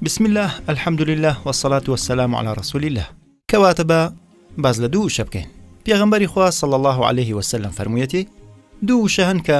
بسم اللە الحمد للە وسلات وسلام على رسول اللە کەواتە بە باز لە دوو شە بکەین پێغمبەری خوا صلى الله عليه وسلم فەرموویەتی دوو شەهن کە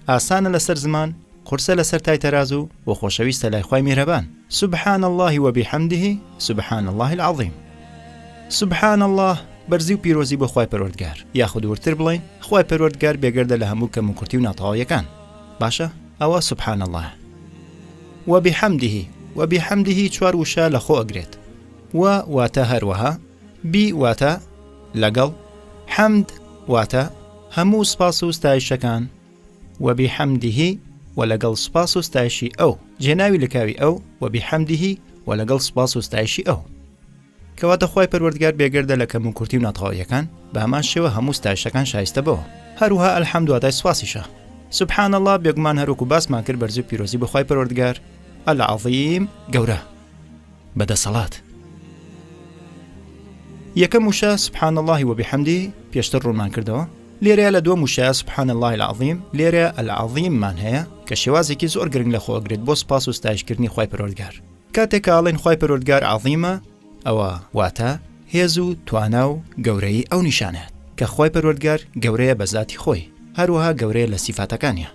ئاسانە لەسەر زمان، قورسە لەسەر تای تەرازو و خۆشەویستە لای خوای میهرەبان. سبحان اللە و بحمده سبحان اللە العظیم. سبحان اللە بەرزی و پیرۆزی بۆ خوای پەروەردگار، یاخود وردتر بڵێین خوای پەروەردگار بێگەردە لە هەموو کەم و کورتی و ناتەواویەکان. باشە ئەوە سبحان اللە. و بحمده و بحمده چوار وشە لەخۆ ئەگرێت. و واتە هەروەها. بی واتە، لەگەڵ، حەمد واتە، هەموو سپاس و ستایشەکان، وەبی حەمدیهی و لەگەڵ سپاس و ستایشی ئەو، جێناوی لکاوی ئەو وەبی حەمدیهی و لەگەڵ سپاس و ستایشی ئەو. کەواتە خوای پەروەردگار بێگەردە لە کەم و کورتی و ناتەواویەکان، بە هەمان شێوە هەموو ستایشەکان شایستە بەوە. هەروها الحمد واتای سپاسیشە. سبحان اللە بێگومان هەروەکو باسمان کرد بەرزی و پیرۆزی بۆ خوای پەروەردگار، العظیم، گەورە. بە دەسەڵات. یەکەم وشە سبحان اللە و بحمدی پێشتر ڕوونمان کردەوە لێرەیە لە دووەم وشە سبحان اللە العظیم لێرە العظیممان هەیە کە شێوازێکی زۆر گرنگ لە خۆگرێت بۆ سپاس و ستایشکردنی خی پەرۆردگار کاتێک کاڵێن خی پەرۆردگار عظیمە ئەوە واتە هێز و توانا و گەورەی ئەو نیشانات کە خی پەرۆردگار گەورەیە بە زاتی خۆی هەروەها گەورەیە لە سیفاتەکانیان